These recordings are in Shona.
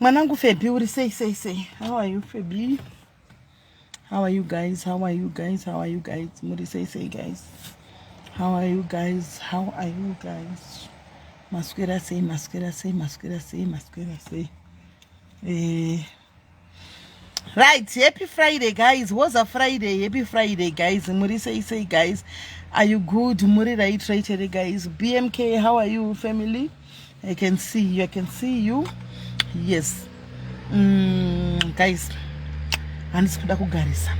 mwanangu febi uri sei sei sei how are you febi how are you guys how are you guys how are you guys muri sei sei guys how are you guys how are you guys maswera sei maswera sei maswera sei maswera sei eh right happy friday guys was a friday happy friday guys muri sei sei guys are you good muri right right here guys bmk how are you family i can see you i can see you yes mm, guys handisi kuda kugarisa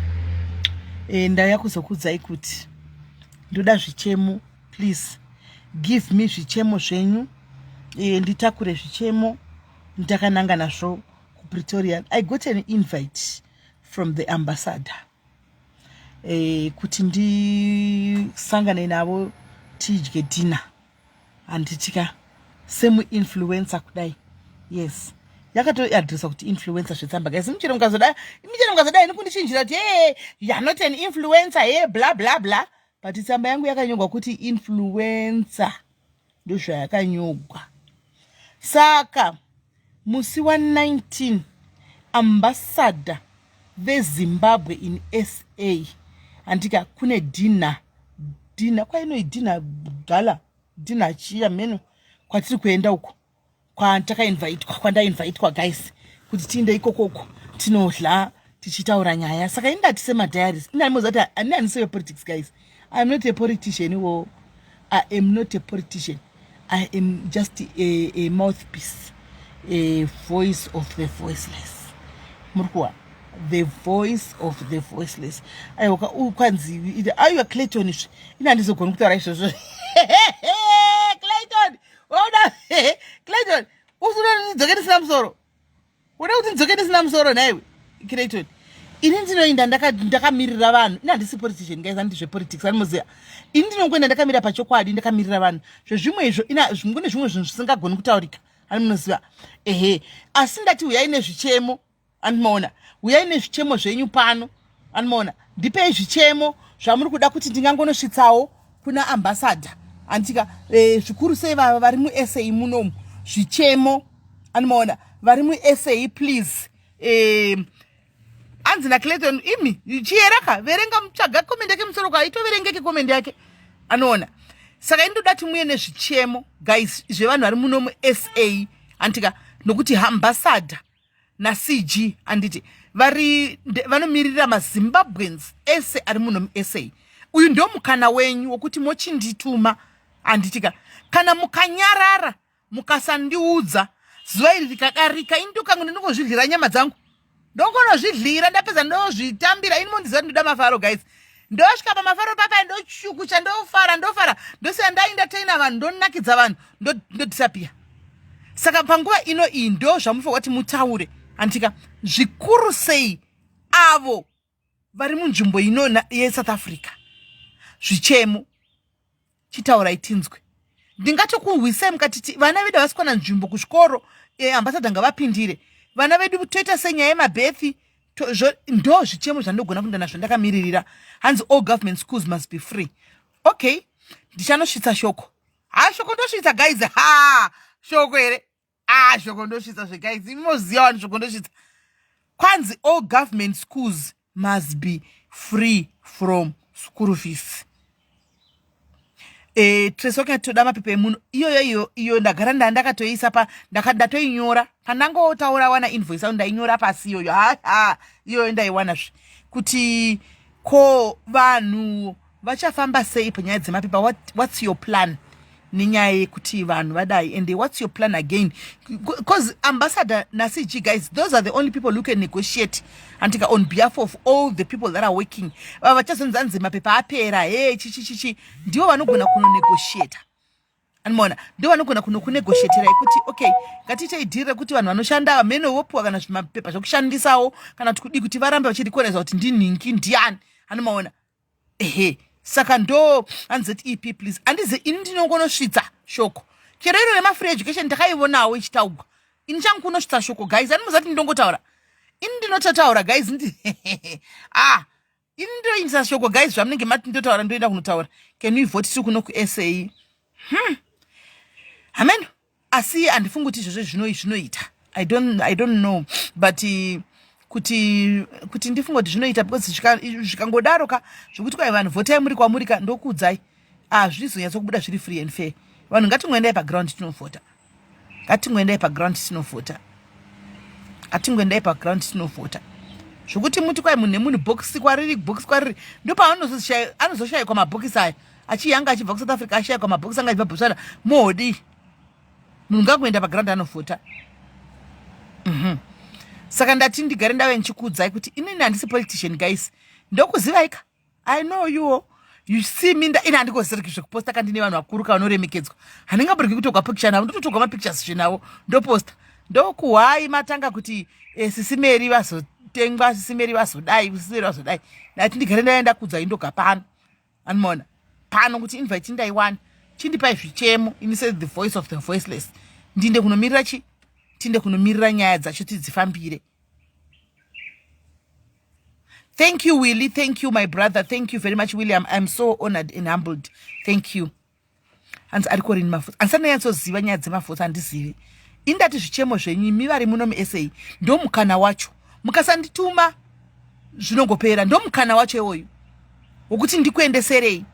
e, ndauya kuzokuudzai kuti ndoda zvichemo please give me zvichemo zvenyu e, nditakure zvichemo ndakananga nazvo kupretoria i got an invite from the ambassador eh, kuti ndisangane navo tidye dinner handitika semuinfluencer kudai yes yakatoadresa kuti influencer zvetsamba guys muchero mukazodai muchero mukazodai nikundichinjira kuti hey, you're not an influencer hey, bla bla bla but tsamba yangu yakanyorwa kuti influencer ndozvayakanyogwa saka musi wa 19 ambassador vezimbabwe in sa handika kune dinha dinha kwainoi dinha gala dinha chiya mheno kwatiri kuenda uko kwatakainvaitwa kwandainvaitwa guys kuti tiinde ikokoko tinodla tichitaura nyaya saka ini ndati semadiaries inaimoza kuti ani ani seve politics guys iam not a politician iwo i am not a politician i am just a, a mouthpiece a voice of the voiceless muri kuwa the voice of the voiceless aiwa kwanzi aiwa clayton izvi ini handizogoni kutaura izvozvo clayton Oda Clayton usunonidzoke ndisina musoro. Unoda kuti ndidzoke ndisina musoro nhaiwe Clayton. Ini ndinoinda ndakamirira ndaka vanhu. Ini handisi politician guys handizve politics animoziva. Ini ndinongoenda ndakamira pachokwadi ndakamirira vanhu. Zvezvimwe izvo ina zvimwe nezvimwe zvinhu zvisingagoni kutaurika. Animoziva. Ehe. Asi ndati huyai nezvichemo. anomaona huyai nezvichemo zvenyu pano anomaona ndipei zvichemo zvamuri kuda kuti ndingangonosvitsawo kuna ambassador anditika e, eh, zvikuru sei vava vari musa munomu zvichemo anomaona vari musa please e, hanzi nacleton imi chiyeraka verenga mutsvaga komende yake musoro kwaitoverengeke komende yake anoona saka indoda timuye nezvichemo guys zvevanhu vari muno musa antika nokuti hambasada nacg anditi vari vanomirira mazimbabweans ese ari muno musa uyu ndo mukana wenyu wokuti mochindituma anditika kana mukanyarara mukasandiudza zuva iri rikadarika ini ndokangu ndinongozvidlira nyama dzangu ndongonozvidlira ndapedza ndozvitambira ini mondiziva ndinoda mafaro guys ndosvika pamafaro papa ndochukucha ndofara ndofara ndosiya ndaindateina vanhu ndonakidza vanhu ndodisapia saka panguva ino iyi ndo zvamufanira kuti mutaure handitika zvikuru sei avo vari munzvimbo ino yesouth africa zvichemo chitaurai tinzwe ndingatokuhwisai mukatiti vana vedu havasi kuwana nzvimbo kuzvikoro e, eh, ambasada ngavapindire vana vedu toita senyaya yemabethi ndo zvichemo zvandogona kuenda nazvo ndakamiririra hanzi all government schools must be free okay ndichanosvitsa shoko ha shoko ndosvitsa guys ha shoko here ah shoko ndosvitsa zve guys imi moziva wani shoko ndosvitsa kwanzi all government schools must be free from school fees eh, tresoka toda mapepa emuno iyoyo iyo iyo ndagara nda ndakatoisa pa ndatoinyora pandangotaura wana invoice au ndainyora pasi iyoyo haa iyoyo ndaiwana zve kuti ko vanhu vachafamba sei panyaya dzemapepa what, what's your plan nenyaya yekuti vanhu vadai and what's your plan again because ambassador nacg guys those are the only people who can negotiate antika on behalf of all the people that are working vava vachazonzi anzi mapepa apera he chichichichi ndivo vanogona kunonegotiata anmona ndo vanogona kunokunegotiatira yekuti okay ngatiitei dhiri rekuti vanhu vanoshanda vamene vopiwa kana zvimapepa zvekushandisawo kana kuti kudii kuti varambe vachirekonaiza kuti ndinhingi ndiani anomaona ehe saka ndo anzet ep please andize ini ndinongonosvitsa shoko chero iro remafree education ndakaivonawo ichitaugwa ini changu kunosvitsa shoko guys ani muzati ndongotaura ini ndinototaura guys ndi ah ini ndoindisa shoko guys zvamunenge mati ndotaura ndoenda kunotaura can we vote tiri kuno kusa hmm. hameno asi handifungi kuti izvozvo zvinoi zvinoita i don't, I don't know but uh, kuti kuti ndifunge kuti zvinoita because zvikangodaro ka zvekuti kwai vanhu votai muri kwamuri ka ndokuudzai hazvizonyatso kubuda zviri free and fair vanhu ngatingoendai paground tinovhota ngatingoendai paground tinovhota ngatingoendai paground tinovhota zvokuti muti kwai munhu nemunhu bhokisi kwariri bhokisi kwariri ndopaanozoshayikwa mabhokisi aya achiyanga achibva kusouth africa ashayikwa mabhokisi anga achibva botswana moodii munhu ngakuenda paground anofota mhm. saka ndati ndigare ndave ndichikuudzai kuti inini handisi politician guys ndokuzivaika i know you you see me ini handikoziriki zvekuposta kandi nevanhu vakuru ka vanoremekedzwa handingaburiki kutogwa picture navo ndototogwa mapictures zvenavo ndoposta ndokuhwai matanga kuti eh, sisi meri vazotengwa sisi meri vazodai sisi meri vazodai ndati ndigare ndaenda kuudzai ndoga pano anmona pano kuti invite chindaiwana chindipai zvichemo ini se the voice of the voiceless ndinde kunomirira chi tinde kunomirira nyaya dzacho tidzifambire thank you willy thank you my brother thank you very much william i'm so honored and humbled thank you hanzi ariko rini mafutsa hanzi anonyatsoziva nyaya dzemafutsa handizivi indati zvichemo zvenyu imi vari muno musa ndomukana wacho mukasandituma zvinongopera ndomukana wacho iwoyu wokuti ndikuendeserei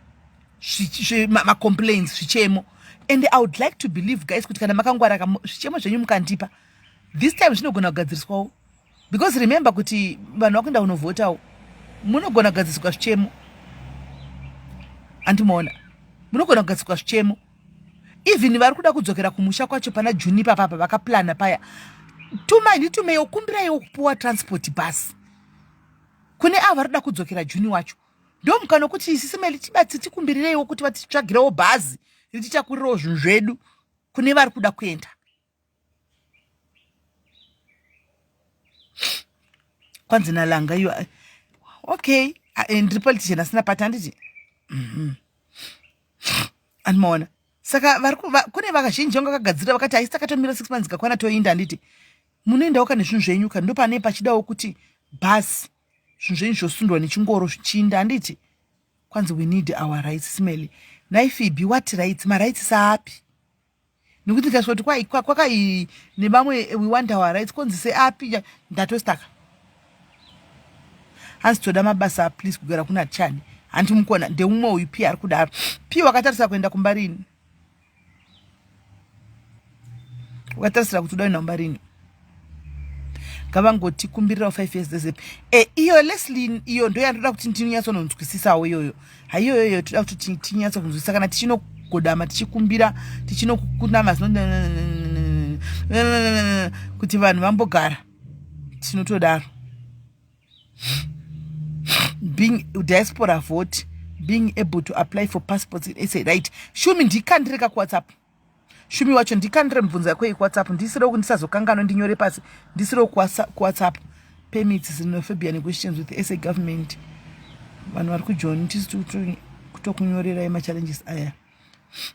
macomplains zvichemo and i would like to believe guys kuti kana makangwara zvichemo zvenyu mukandipa this time zvinogona kugadziriswawo because remember kuti vanhu vakuenda kunovhotawo munogona kugadziswa zvichemo andimoona munogona kugadziswa zvichemo even vari kuda kudzokera kumusha kwacho pana juni papapa vakaplana paya tumai nditumeiwo kumbiraiwo kupuwa transport bus kune avo vari kuda kudzokera juni wacho ndomukana wekuti isi semeli tibatsi tikumbirireiwo kuti vatitsvagirewo bhazi rititakurirawo zvinhu zvedu kune vari kuda kuenda kwanzi nalanga iyo okay eh, ndiri politician asina pati handiti mhm. andimaona saka kune vakazhinji vanga vakagadzirira vakati haisi takatomira six months kakwana toinda handiti munoendawo ka nezvinhu zvenyu ka ndo pane pachidawo kuti bhasi zvinhu zvenyu zvosundwa nechingoro zvichiinda handiti kwanzi we need our rights smely naifibi what rights marights saapi nekuti ndikasvika kuti kwakai nevamwe we want our rights konzi seapi ndatostaka hanzi toda mabasa please kugara kuna chani hanti mukona ndeumwe uyu pi ari kudaro pi wakatarisa kuenda kumba rini wakatarisira kuti udaenda kumba rini ngavangoti kumbirirawo five years dezem e eh, iyo leslin iyo ndo yandoda kuti ndinonyatsononzwisisawo iyoyo haiyoyo iyo toda kuti tinyatso kunzwisisa kana tichinogodama tichikumbira tichinokunama kuti vanhu vambogara tinotodaro being diaspora vote being able to apply for passports in sa right shumi ndikandireka kuwhatsapp Shumi wacho ndikandire mibvunzo yako yekuwhatsapp ndisire uku ndisazokanganwe ndinyore pasi ndisire uku kuwhatsapp permits xenophobia negotiations with sa government vanhu vari kujoni tisi kutokunyorerai machallenges aya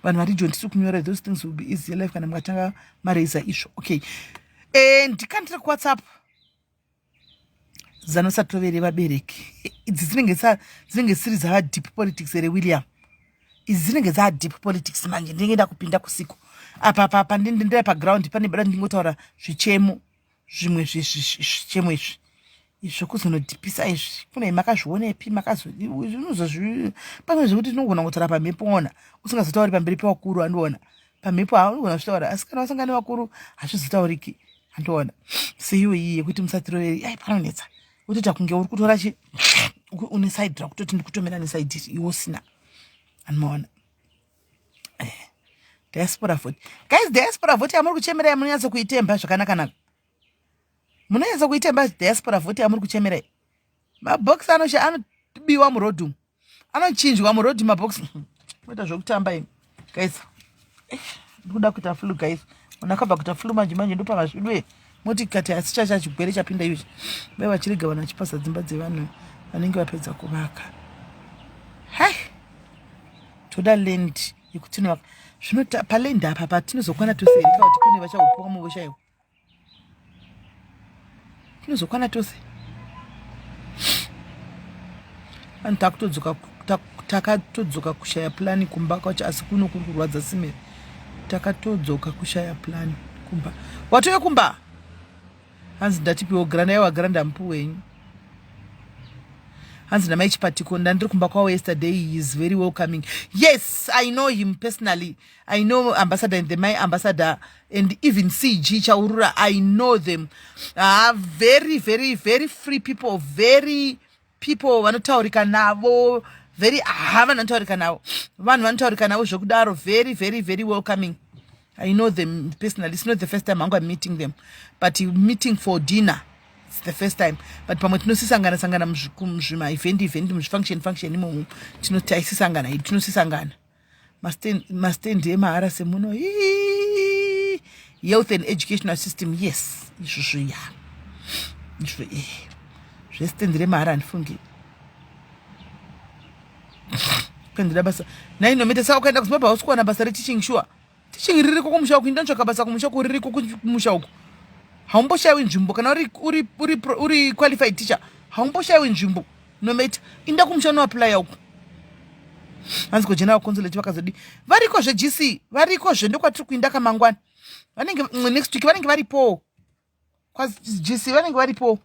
vanhu vari joni tisi kunyorerai those things will be easy life kana mukatanga maraiza izvo okay e, ndikandire kuwhatsapp zano satove revabereki idzi dzinenge dzinenge dzisiri dzava deep politics here william idzi dzinenge dzava deep politics manje ndinenge nda kupinda kusiku apa papa ndindendera paground pane bada ndingotaura zvichemo zvimwe zvichemo izvi zvokuzonodhipisa izvi kune makazvionepi makazozvinozozvi pamwe zvekuti tinogona kutora pamhepo ona usingazotauri pamberi pevakuru andiona pamhepo haunogona zvitaura asi kana wasanga nevakuru hazvizotauriki andoona seiwe iyi yekuti musatiroveri ai panonetsa wotoita kunge uri kutora chi une side rakutoti ndikutomera nesaidi iri iwe usina anomaona eh, diaspora vote guys diaspora vote yamuri kuchemera ya munonyatso kuitemba zvakanaka nako munonyatso kuitemba diaspora vote yamuri kuchemera mabox anobiwa murodhumu anochinjwa muroad mabox moita zvekutamba ini guys eh, ndikuda kuita flu guys munhu akabva kuita flu manje manje ndopavazvidwe moti kati asi chacha chigwere chapinda iyochi vai vachirega vanhu vachipasa dzimba dzevanhu vanenge vapedza kuvaka hai toda land yekuti tinovaka zvino palendi apa patinozokwana tose here kauti kune vachaupiwa muvo chaiwo tinozokwana tose vanhu takutodzoka takatodzoka kushaya plani kumba kwacho asi kuno kuri kurwadza simere takatodzoka kushaya plani kumba watove kumba hanzi ndatipiwo grana yaiwa grana ndamupi wenyu hanzi namai chipatiko ndandiri kumba kwavo yesterday he is very welcoming yes i know him personally I know ambassador and the my ambassador and even CG Chaurura, I know them. Are ah, very, very, very free people, very people vanotaurika navo very ha ah, vanotaurika navo vanhu vanotaurika navo zvekudaro very very very welcoming i know them personally it's not the first time hangu am meeting them but meeting for dinner it's the first time but pamwe tinosisangana sangana muzvima event event muzvifunction function imomo tinosisangana tinosisangana mastand emahara semuno health and educational system yes izvozvo ya izvo e eh. zvestand remahara handifungi kuendera basa nainometesa ukaenda kuzimbabwe hausi kuwana basa reteaching shuwa sure. teaching ririko kumusha uku inda ntsvaka basa kumusha uku ririko kumusha uku haumboshayiwi nzvimbo kana uri, uri, uri, uri qualified teacher haumboshayiwi nzvimbo nometa inda kumusha unoaplya uku hanzi ko general consulate vakazodi variko zvegc variko zve ndokwatiri kuinda kamangwana vanenge next week vanenge varipowo kwajisi vanenge varipo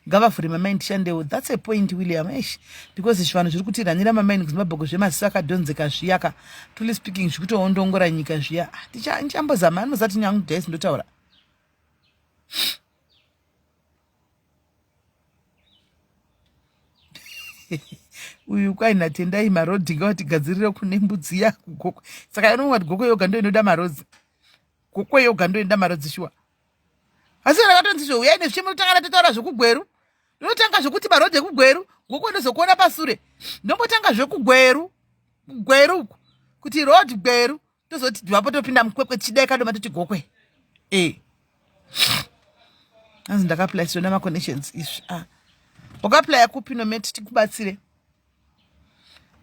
ngavavhure mamai ndishandewo thats a point william esh because zvivanhu zviri kutiranira mamai nekuzimbabhoko zvemasisa akadhonzeka zviyaka truly speaking zvikutoondongora nyika zviya ah, ndichambozama anozati nyangu dais ndotaura uyu kwai natendai marodhi ngawatigadzirire kune mbudzi yako goko saka anonwa kuti goko yoga ndo inoda marodzi goko yoga ndo inoda marodzi shuwa asi kana katonzi zve uyai nezvichemo totanga tataura zvekugweru ndinotanga zvekuti marodhi ekugweru goko ndozokuona pasure ndombotanga zvekugweru kugweru uku kuti road gweru tozoti vapo topinda mukwekwe tichidai kadoma toti gokwe e hanzi ndakaplaya siona maconnections izvi a ah. wakaplaya kupi nometi tikubatsire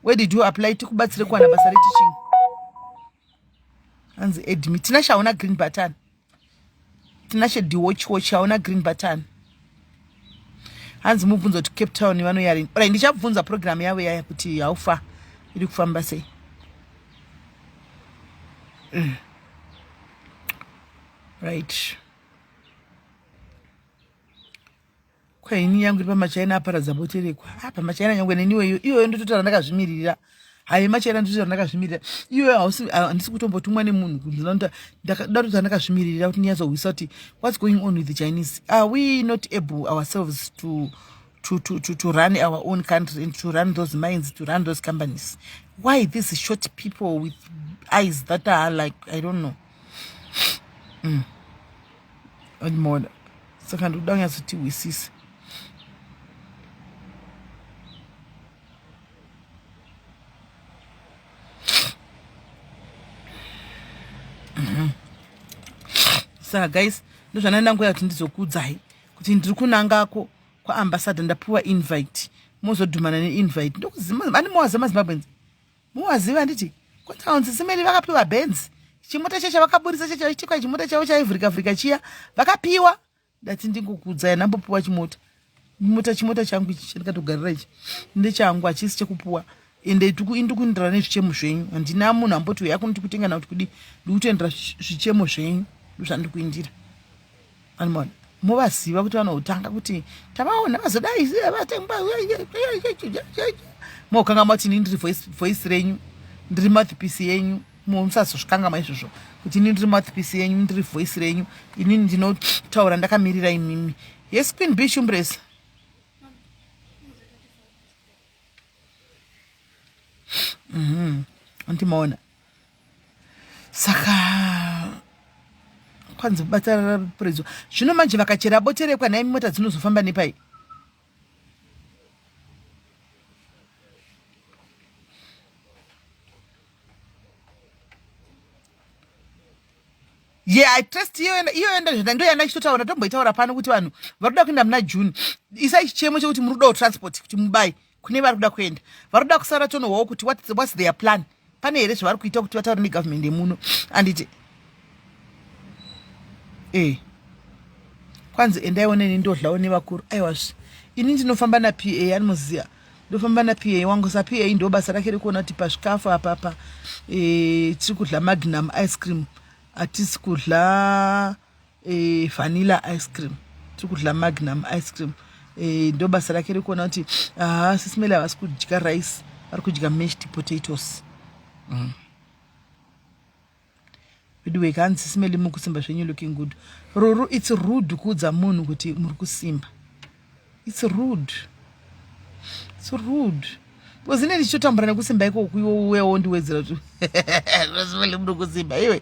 where did you apply tikubatsire kuwana basa reteaching hanzi edmi tina shaona green button tinashe diwochiwochi hauna green button hanzi mubvunzo kuti cape town vanoyarini orai ndichabvunza program yavo yaya kuti haufa iri kufamba sei mm. right Kwa ini yangu iri pamachaina aparadza bote rekwa. Ah, pamachaina nyangwe neniwe iyo iyoyo ndototara ndakazvimiririra. Hayi machaina ndototara ndakazvimiririra. Iyoyo hausi ah, handisi kutombotumwa nemunhu kuti ndinoda ndatotara ndakazvimiririra kuti ndinyazohwisa kuti what's going on with the Chinese? Are we not able ourselves to to, to, to, to run our own country and to run those mines, to run those companies. Why these short people with eyes that are like, I don't know. mm. admoda saka ndikuda kunyatsotihwisisa mm-hmm. saka guys ndozvandandangoya kuti ndizokuudzai kuti ndiri kunangako kwaambassador ndapiwa invite mozodhumana neinvite ndokuziva ane mawaza mazimbabwenzi Muwaziva handiti? Kwanzi vanzi simeli vakapiwa benzi. Chimota chacho vakaburitsa chacho chitika chimota chavo chaivhurika vhurika chiya. Vakapiwa ndati ndingokudza yanambopiwa chimota. Mota chimota changu ichi chandikatogarira ichi ndechangu hachisi chekupuwa ende ndikuendera nezvichemo zvenyu handina munhu amboti uya kunoti kutenga na kuti kudi ndikutoendera zvichemo zvenyu ndozvandikuindira Anmon movaziva kuti vanoutanga kuti tavaona vazodai vatengwa mokanga mati ini ndiri voice renyu ndiri mathipisi yenyu musazozvikangamwa izvozvo kuti ini ndiri mathipisi yenyu ndiri voice renyu ini ndinotaura ndakamirira imimi yes queen b shumbresa mm -hmm. antimaona saka kwanzi bata puridzo zvino manje vakachera boterekwa nhai mota dzinozofamba nepai ye yeah, i trust iyo yenda zvenda ndo yanda chitotaura tomboitaura pano kuti vanhu varoda kuenda muna june isai chichemo chekuti muri kudawo transport kuti mubai kune vari kuda kuenda vari kuda kusara tonohwawo kuti whats, whats their plan pane here zvavari kuita kuti vataure negovernment yemuno anditi ee eh. kwanzi endaione nendodlawo nevakuru aiwazve ini ndinofamba na pa animoziva ndofamba na pa wangu sa pa ndo basa rake rekuona kuti pazvikafu apapa e, eh, tiri kudla magnum ice cream hatisi kudla e, vanilla ice cream tiri kudya magnum ice cream e, ndo basa rake rekuona kuti haa sisimele havasi kudya rice vari kudya mashed potatoes mm. veduwe kanzi sisimele mukusimba zvenyu looking good ruru its rude kuudza munhu kuti muri kusimba It's rude. It's rude. Because ine ndichotambura nekusimba iko kuiwe uwe wondiwedzera kuti zvazivele muno kusimba iwe.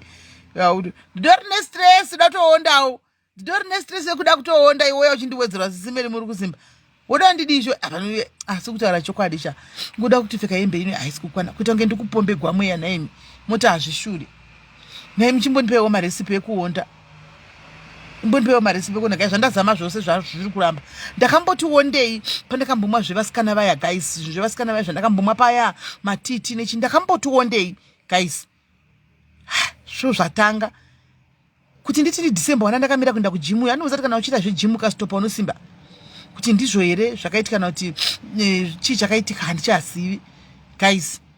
Yaudu. Ndidori ne stress ndatoondawo. Ndidori ne stress yekuda kutoonda iwe uchindiwedzera zisimeli muri kusimba. Woda ndidizvo apanuye asi ah, kutaura chokwadi cha. Ngoda kuti pfeka hembe ino haisi kukwana. Kuita kunge ndikupombegwa mweya nhaimi. Mota hazvishuri. nhai muchimbondipeiwo maresipi ekuonda mbondipewo maresipi ekuonda gai zvandazama zvose zvazviri kuramba ndakamboti wondei pandakambomwa zvevasikana vaya gais zvevasikana vaya zvandakambomwa paya matiti nechi ndakamboti wondei gais zvo zvatanga kuti nditi ndidecember wana ndakamira kuenda kujimu uyo anouza ti kana uchiita zvejimu ukastopa unosimba kuti ndizvo here zvakaitika kana kuti eh, chii chakaitika handichazivi gais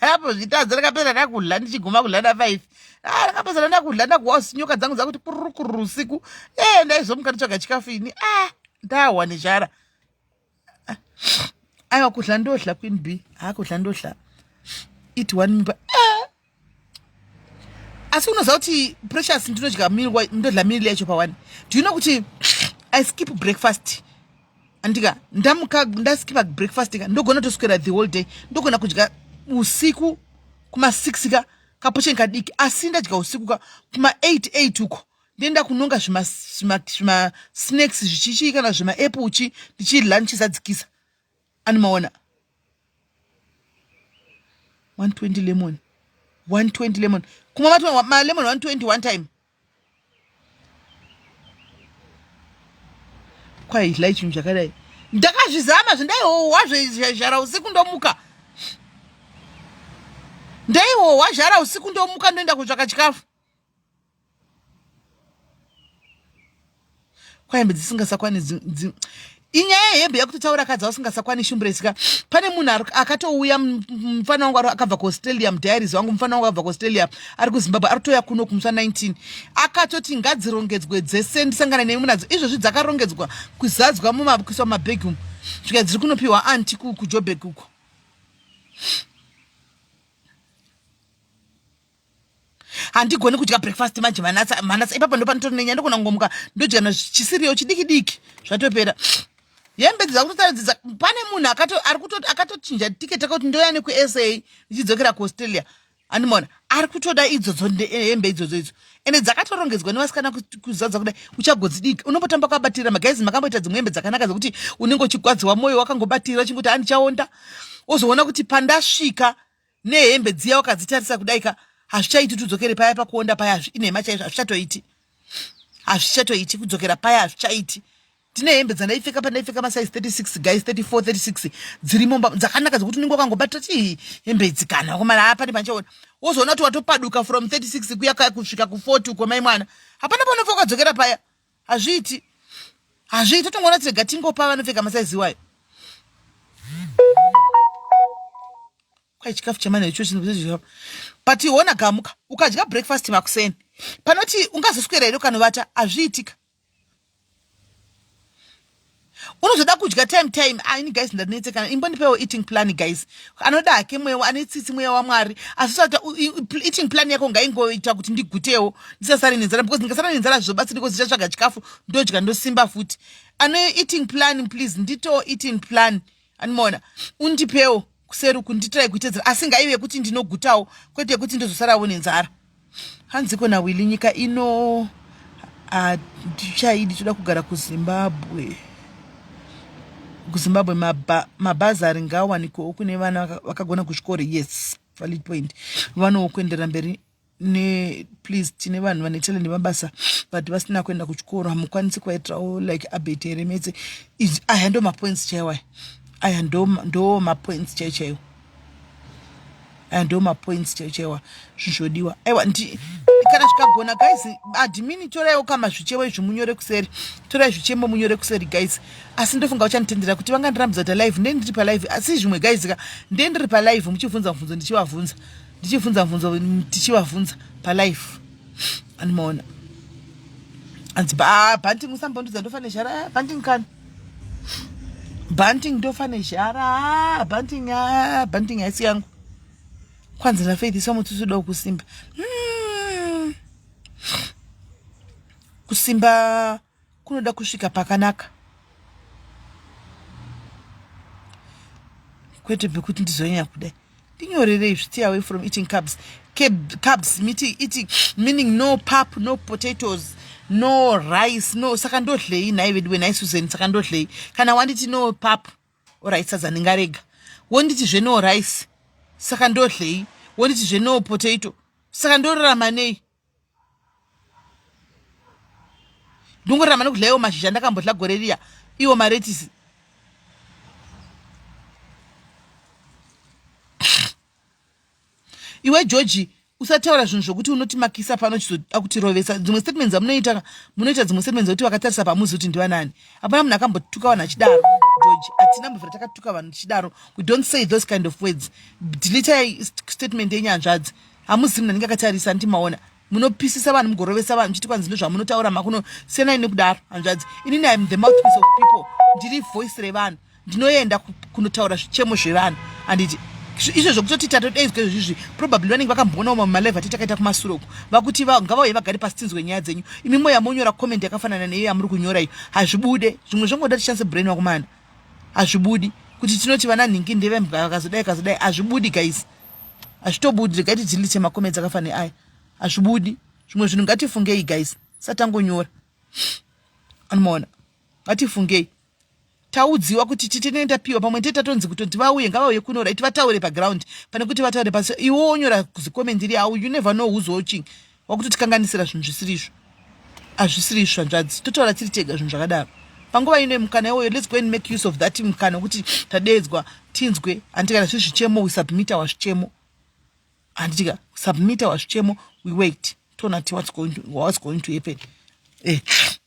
apo zvitadza rakapera ndakudla ndichiguma kudla na five ah rakapesana ndakudla ndakuwa nyoka dzangu dzakuti kururu kururu usiku eh ndaizomuka nditsvaga chikafu ini ah ndahwa nezhara ah, aiwa kudla ndodla queen b haa kudla ndodla iti one mimba ah asi unoziva kuti precious ndinodya ndodla mil yacho pawani do you know kuti i skip breakfast andika ndamuka ndaskipa breakfast ka ndogona toswera the whole day ndogona kudya usiku kuma6 ka kapocheni kadiki asi ndadya usiku ka kuma8 8 uko ndoenda kunonga zvimasnacks zvichichii kana zvimaaple uchi ndichilunch zadzikisa Ani maona 120 lemon 120 lemon kuma matwa ma lemon 120 one time kwai hla chinhu chakadai ndakazvizama zvindaihohwa zvezhara usiku ndomuka ndaihohwa zhara usiku ndomuka ndoenda kutsvaka chikafu kwahembe dzisingasakwani inyaya yehembe yakutotaura kadzi ausingasakwani shumburesika pane munhu akatouya mufana wangu akabva kuaustralia mudiaries wangu mufana wangu akabva kuaustralia ari kuzimbabwe ari kutouya kuno kumuswa 19 akatoti ngadzirongedzwe dzese ndisangana nemi munadzo izvozvi dzakarongedzwa kuzadzwa mumakuiswa mumabhegi umu svika dziri kunopiwa anti kujobheki uko handigoni kudya breakfast manje manatsa manatsa ipapa ndopanitori nenya ndogona kungomuka ndodya na chisiriyo chidiki diki zvatopera hembe dzakutotadzidza pane munhu akato ari kuto akatochinja ticket akati ndoya neku sa ndichidzokera ku australia andimona ari kutoda idzodzo hembe idzodzo idzo ende dzakatorongedzwa nevasikana kuzadza kudai uchagodzi diki unombotamba kuabatira magaizi makamboita dzimwe hembe dzakanaka dzekuti unenge uchigwadziwa mwoyo wakangobatira uchingoti andichaonda wozoona kuti pandasvika nehembe dziya wakadzitarisa kudai ka hazvichaiti tudzokere paya pakuonda paya inhema chaizvo hazvichatoiti hazvichatoiti kudzokera paya hazvichaiti tine hembe dzandaipfeka pandaipfeka masaizi 36 guys 34 36 dzirimo dzakanaka dzekuti unenge wakangobata ti hembe idzi kana wakomana hapane panchaona wozoona kuti watopaduka from 36 kuya kaya kusvika ku40 ukomai mwana hapana panobva ukadzokera paya hazviiti hazviiti totongoona tirega tingopa vanopfeka masaizi iwayo kwai chikafu chemana icho chinoa but iona gamuka ukadya breakfast makuseni panoti ungazoswera here ukanovata hazviitika unozoda kudya time time ah, ini guys ndanetsekana imbondipewo eating plan guys anoda hake mweya ane tsitsi mweya wamwari asi sata eating plan yako ngaingoita kuti ndigutewo ndisasare nenzara because ndikasara nenzara zvizobatsira because ndichatsvaga chikafu ndodya ndosimba futi ane eating plan please nditowo eating plan animoona undipewo kuseri uku nditirai kuitedzera asi ngaive kuti ndinogutawo kwete yekuti ndozosarawo nenzara hanziko nawili nyika ino hatichaidi toda kugara kuzimbabwe kuzimbabwe mabhazari ngawanikowo kune vana vakagona kuchikoro yes valid point vanowo kuenderera mberi ne please tine vanhu vane talent mabasa but vasina kuenda kuchikoro hamukwanisi kuvaitirawo like abet here mese aya ndo mapoints chaiwo aya aya ndo mapoints chaiwo chaiwo aya ndo mapoints chaiwo chaiwa zvichodiwa aiwa kana zvikagona guys admini toraiwo kama zvichevo izvi munyore kuseri torai zvichemo munyore kuseri guys asi ndofunga uchanditendera kuti vanga ndirambidza kuti alive ndendiri palive asi zvimwe guys ka ndendiri palive muchibvunza mubvunzo ndichivabvunza ndichibvunza bvunzo tichivabvunza palife and maona anzi ah, banting musambondudza ndofa nezhara ah, banting kani banting ndofa nezhara ah, banting banting haisi yangu kwanzi nafaith isamutusuda kusimba hmm. kusimba mm. kunoda kusvika pakanaka kwete pekuti ndizonyanya kudai ndinyorerei zviti away from eating carbs carbs miti eating meaning no pap no potatoes no rice no saka ndodlei nhai veduwe nhai susan saka ndodlei kana wanditi no pap orit sadza ndingarega wonditi zve no rice saka ndodlei wonditi zve no potato saka ndorarama nei ndongorarama nekudya iwo mashizha ndakambodya gore riya iwo maretisi iwe georgi usataura zvinhu zvokuti unoti makisa pano chizoda kutirovesa dzimwe statements amunoita munoita dzimwe statements zekuti vakatarisa pamuzi kuti ndivanani hapana munhu akambotuka vanhu achidaro georgi hatina mbovira takatuka vanhu tichidaro we don't say those kind of words dilitai statement yenyanzvadzi hamuzi mnhu anenge akatarisa anti maona munopisisa vanhu mugorovesa vanhu chiti kwanzi ndozvamunotaura makuno senai nekudaro hanzvadzi inini im the mouthpiece of people ndiri voice revanhu ndinoenda kunotaura zvichemo zvevanhu anditi izvo zvokutoti tatodaidzwa izvozvizvi probably vanenge vakamboonawo mamwe malive ati takaita kumasuro uku vakuti ngavauye vagare pasi tinzwe nyaya dzenyu imi moya monyora comment yakafanana neiyo yamuri kunyora iyo hazvibude zvimwe zvangoda tichanse brain wakumana hazvibudi kuti tinoti vana nhingi ndevembwa vakazodai kazodai hazvibudi guys hazvitobudi regai tidzindise makomedzi akafa neaya hazvibudi zvimwe zvinhu ngatifungei guys satangonyora anomaona ngatifungei taudziwa kuti titenei tapiwa pamwe tete tatonzi kutonzi vauye ngavauye kuno right vataure paground pane kuti vataure pasi iwe wonyora zikomendiri au you never know who's watching wakutitikanganisira zvinhu zvisiri izvo hazvisiri izvo zvanzvadzi totaura tiri tega zvinhu zvakadaro panguva ino yemukana iwoyo lets go and make use of that mukana wekuti tadeedzwa tinzwe handiti kana zviri zvichemo we submit our zvichemo handitika submit our zvichemo we wait tona ti what's going to, what's going to happen eh,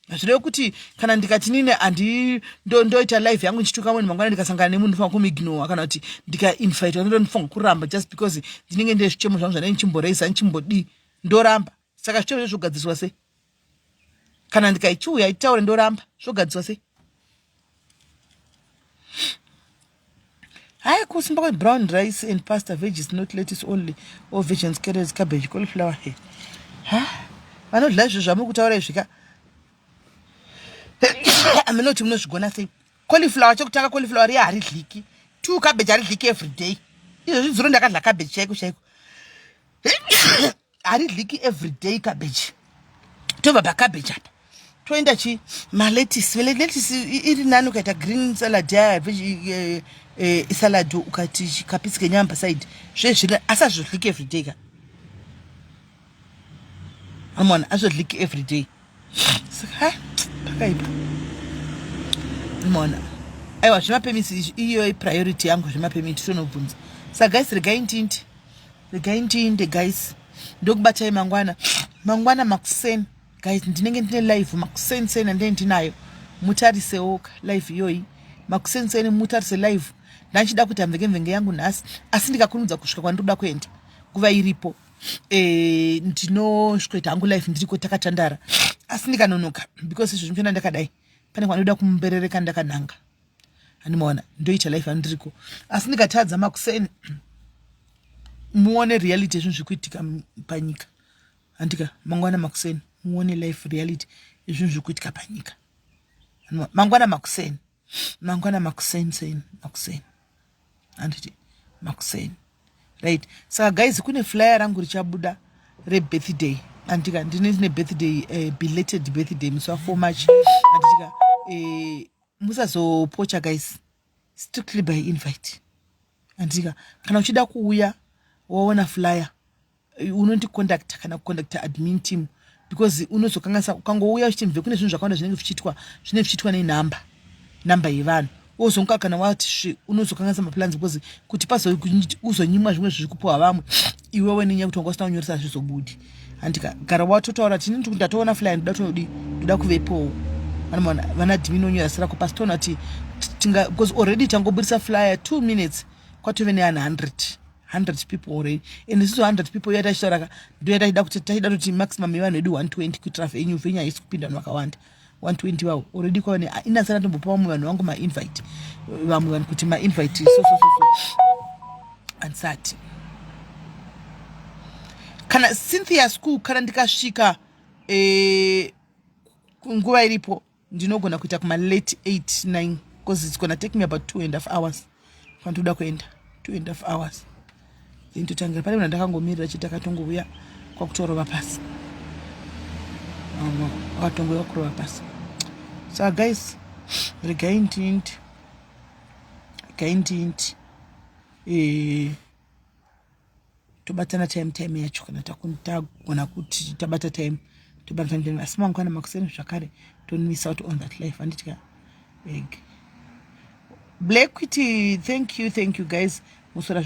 hazvireve kuti kana ndikati nini andi ndoita ndo life yangu ndichituka munhu mangwana ndikasangana nemunhu ndifunga kumignora kana kuti ndikainvitwa ndo ndifunga kuramba just because ndinenge ndine zvichemo zvangu zvanei ndichimboreisa ndichimbodii ndoramba saka zvichemo zvezvogadziswa sei kana ndikaichiuya itaure ndoramba zvogadziswa sei hayi kusimba kwebrown rice and pasta veges not lettuce only or vegans carrots cabbage cauliflower he ha vanodla izvo zvamuri kutaura izvi ka aminoti munozvigona sei cauliflower chekutanga cauliflower riya haridliki two cabbage haridliki every day izvo zvidzuro ndakadla cabbage chaiko chaiko haridliki everyday cabbage tobva pacabbage apa toenda chi maletisi veletisi iri nani ukaita green salad yaya eh, eh, salad ukati chikapisi kenyama pasaidi zvezviri asi azvodliki everyday ka amona azvodliki everyday saka pakaipa mona aiwa zvemapemisi iyo ipriority yangu zvemapemisi tonobvunza saka guys regai ndinti regai ndiinde guys ndokubatai mangwana mangwana makuseni guys ndinenge ndine live makuseni seni andee ndinayo mutarisewoka live iyoyi makuseni seni mutarise live ndachida kuita mvenge mvenge yangu nhasi asi ndikakunudza kusvika kwandiroda kuenda nguva iripo e, ndinosvikoita hangu life ndiriko takatandara asi ndikanonoka because izvozvi mchona ndakadai pane kwanoda kumuberereka ndakananga hani maona ndoita life andiriko asi ndikatadza makuseni muone reality ezvinhu zviri kuitika panyika handika mangwana makuseni muone life reality ezvinhu zviri kuitika panyika mangwana makuseni mangwana makuseni seni makuseni handiti makuseni right saka guys kune flyer rangu richabuda rebirthday andika ndine ndine birthday uh, belated birthday musi wa4 march anditika uh, eh, musazopocha guys strictly by invite andika kana uchida kuuya waona flyer unondicontacta kana kucontacta admin team because unozokanganisa ukangouya uchiti mve kune zvinhu zvakawanda zvinenge zvichiitwa zvinenge zvichiitwa nenhamba nhamba yevanhu wozonga kana wati svi unozokanganisa maplans because kuti pauzonyimwa zvimwe zviri kupiwa vamwe iwewe nenyaya kuti wanga usina kunyoresa zvizobudi handi gara watotaura tini ndikuti ndatoona fly ndoda todi ndoda kuvepowo vana dimini onyora sira ko pasi toona kuti tinga because already tangobudisa flyer two minutes kwatove neanhu hundred hundred people already and isiso hundred people iya tachitauraka ndoya tachida kuti tachida kuti maximum yevanhu vedu one twenty kuitira venyu venyu haisi kupinda vanhu vakawanda 120 vawo already kwava ne ah, inasana tombopa vamwe vanhu vangu mainvite vamwe vanhu kuti mainvite so so so so ansati kana cynthia school kana ndikasvika eh, nguva iripo ndinogona kuita kuma late 8 9 because it's gonna take me about two and half hours fana toda kuenda two and half hours then totangira pane mna ndakangomirira chii takatongouya kwakutorova pasi akatongouya kwakurova pasi sa guys regai ndinti regai ndinti ee eh, tobatana time time yacho kana tagona kuti tabata time tobatana time asi mangwana makuseni zvakare tonwisa out on that life anditya eg black kuti thank you thank you guys musora